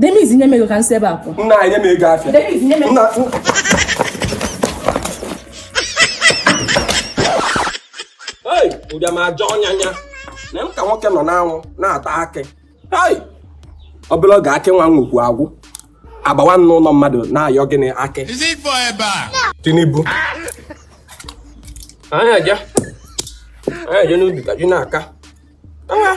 Dennis nye m ego ka m si ebe a pụọ. Nna anyị nye m ego afịa. Dennis nye m ego. Ei, ụbịam ajọ ọnya nya. Na-eme ka nwoke nọ n'anwụ na-ata akị. Ei, ọ bụla oge akị nwa nwoke agwụ. Agbawa m n'ụlọ mmadụ na-ayọ gịnị akị. Tinubu. Anyị aja. Anyị aja n'ubi ka ji na-aka. Ah.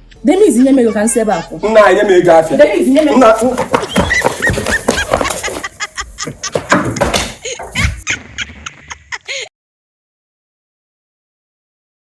Dennis nye m ego ka m si ebe a pụọ. Nna anyị nye m ego afịa. Dennis nye m ego.